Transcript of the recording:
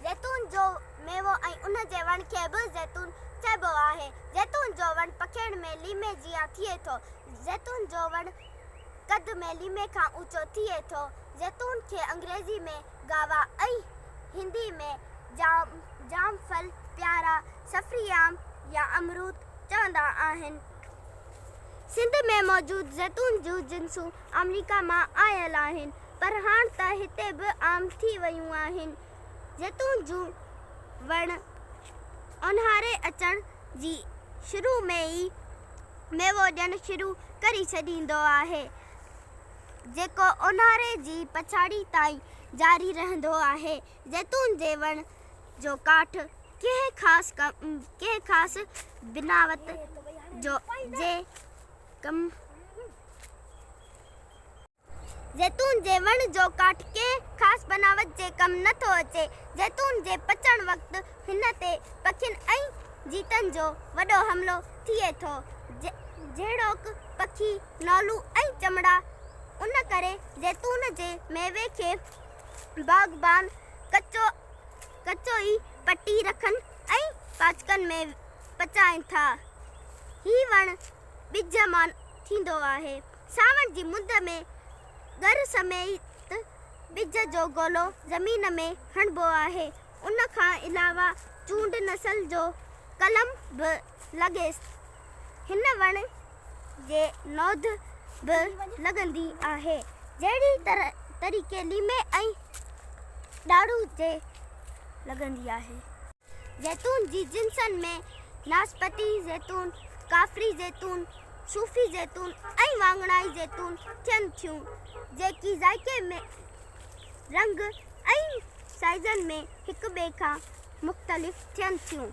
زيتون جو ميوو ۽ ان جي وڻ کي به زيتون چئبو آهي. زيتون جو وڻ پکيئڻ ۾ ليمي جيان ٿئي ٿو. زيتون جو وڻ قد ۾ ليمي کان اوچو ٿئي ٿو. زيتون کي انگريزي ۾ Guava ۽ هندي ۾ جام، جام ڦل، پيارا، سفري آم يا امروت چوندا آهن. سنڌ ۾ موجود زيتون جون جنسون آمريڪا مان آيل آهن. پر هاڻ ته هتي به عام ٿي ويون آهن. زيتون جون وڻ اونهاري اچڻ جي شروع ۾ ئي ميوو ڏيڻ شروع ڪري ڇڏيندو آهي، جيڪو اونهاري جي پڇاڙي تائين جاري رهندو آهي. زيتون جي وڻ جو ڪاٺ ڪنهن خاص ڪنهن خاص بناوت جو جي ڪم. زيتون جي وڻ جو ڪاٺ ڪنهن خاص بناوت جي ڪم نه ٿو اچي. زيتون جي پچڻ وقت هن تي پکين ۽ جيتن جو وڏو حملو ٿئي ٿو، جهڙوڪ پکي، نولون ۽ چمڙا. ان ڪري زيتون جي ميوي کي باغبان ڪچو ڪچو ئي پٽي رکن ۽ پاچڪن ۾ پچائين ٿا. هي وڻ ٻج مان ٿيندو آهي. ساوڻ جي مند ۾ ڳر سميت ٻج جو گولو زمين ۾ هڻبو آهي. ان کان علاوه چونڊ نسل جو قلم به لڳيس. هن وڻ جي نوڌ به لڳندي آهي. جهڙي طريقي ليمي ۽ ڏاڙهو جي لڳندي آهي. زيتون جي جنسن ۾ ناسپتي زيتون، ڪافري زيتون، صوفي زيتون ۽ واڱڻائي زيتون ٿين ٿيون، جيڪي ذائقي ۾، رنگ ۽ سائيزن ۾ هڪٻئي کان مختلف ٿين ٿيون.